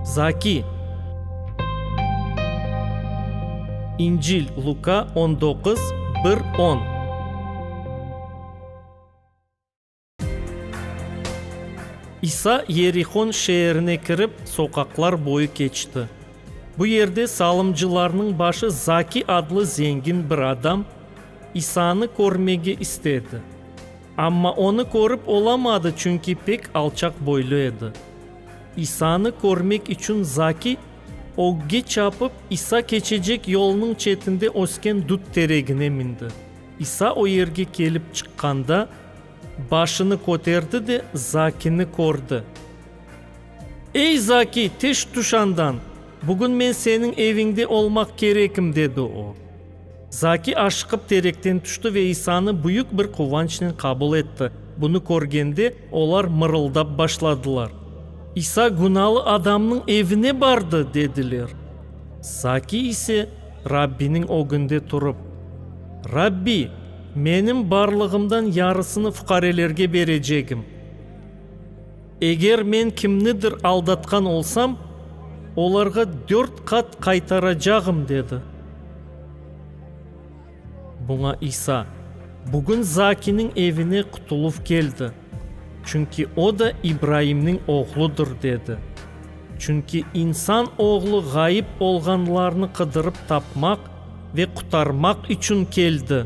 Zaki. İncil, Luka on doquz, bir on. İsa Yerihon şeerine kirip, soqaqlar boyu keçti. Bu yerde salımcılarnıñ başı Zaki adlı zengin bir adam İsanı körmege istedi. Amma onı körip olamadı, çünki pek alçaq boylu edi. İsanı körmek içün Zakiy, ögge çapıp, İsa keçecek yolnıñ çetinde ösken dut teregine mindi. İsa o yerge kelip çıqqanda, başını köterdi de Zakiyni kördi. Ey, Zakiy, teş tüş andan! Bugün men seniñ eviñde olmaq kerekim, dedi o. Zaki aşıqıp terekten tüşti ve İsanı büyük bir quvançnen qabul etti. Bunı körgende, olar mırıldap başladılar. İsa günalı adamnıñ evine bardı! dediler. Zaki ise Rabbiniñ ögünde turıp, Rabbi, menim barlığımdan yarısını fuqarelerge berecegim. Eger men kimnidir aldatqan olsam, olarğa dört qat qaytaracağım, dedi. Buña İsa, Bugün Zakiniñ evine qutuluv keldi, çünki o da İbraimniñ oğludır, dedi. Çünki İnsan Oğlu ğayıp olğanlarnı qıdırıp tapmaq ve qutarmaq içün keldi.